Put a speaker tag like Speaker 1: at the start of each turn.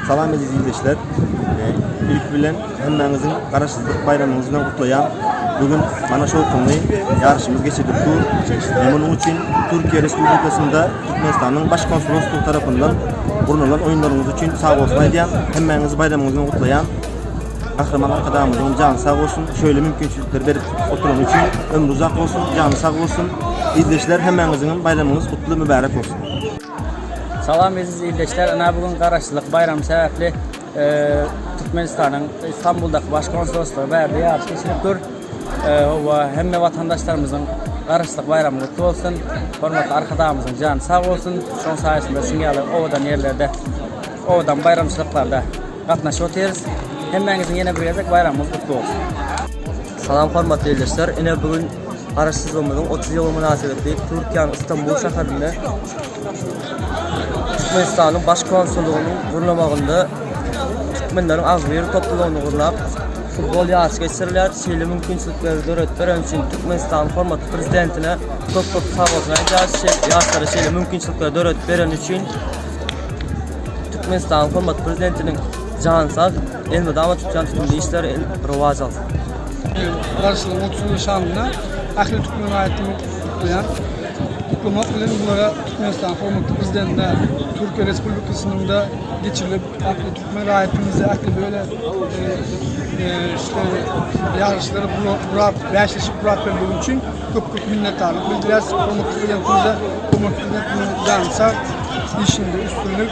Speaker 1: Salam eziz ildeşler. Ilk bilen hemmäňiziň Garaşsyzlyk baýramyňyz bilen gutlaýan. Bu gün mana şu ýokumly ýaryşymyz geçirilip dur. Men munuň üçin Türkiýe Respublikasynda Türkmenistanyň Baş konsuloslygy tarapyndan gurnalan oýunlaryňyz üçin sagbolsun aýdýan. Hemmäňizi baýramyňyz bilen gutlaýan. Gahryman Arkadagymyzyň jany sag bolsun, şöýle mümkinçilikleri berip oturany üçin ömri uzak bolsun, jany sag bolsun. Ildeşler hemmäňiziňem baýramyňyz gutly, mübärek bolsun. Salam eziz ildeşler, ynha bu gün garaşsyzlyk baýramy sebäpli Türkmenistanyň Istanbuldaky baş konsuloslygy bärde ýaryş geçirip dur. Howwa hemme watandaşlarymyzyň garaşsyzlyk baýramy gutly bolsun. Hormatly Arkadagymyzyň jany sag bolsun. Şoň saýasynda şuň ýaly owadan ýerlerde owadan baýramçylyklarda gatnaşyp otyrys. Hemmäňiziň ýene bir gezek baýramyňyz gutly bolsun. Salam hormatly ildeşler, ine bu gün Garaşsyzlygymyzyň otuz ýyly mynasybetli Türkiýäniň Istanbul şäherinde Türkmenistanyň Baş konsullygynyň gurnamagynda türkmenleriň agzybir toplumyny gurnap, futbol ýaryşy geçirilýär. Şeýle mümkinçilikleri döredip bereni üçin Türkmenistanyň hormatly Prezidentine köp-köp sagbolsun aýdýarys. Ýaşlara şeýle mümkinçilikleri döredip bereni üçin Türkmenistanyň hormatly Prezidentiniň jany sag, elmydama tutýan tutumly işleri rowaç alsyn! Garaşsyzlygyň otuz ýyllyk şanyna ähli türkmen raýatlaryny gutlaýan gutlamak bilen bulara Türkmenistanyň hormatly Prezidentine Türkiýe Respublikasynda geçirilip ähli türkmen raýatlarymyzy ähli böyle ýaryşlara gurap bäşleşik gurap bermegi üçin köp köp minnetdarlyk bildirýäris hormatly Prezidentimize hormatly Prezidentimiz jany sag işinde üstünlik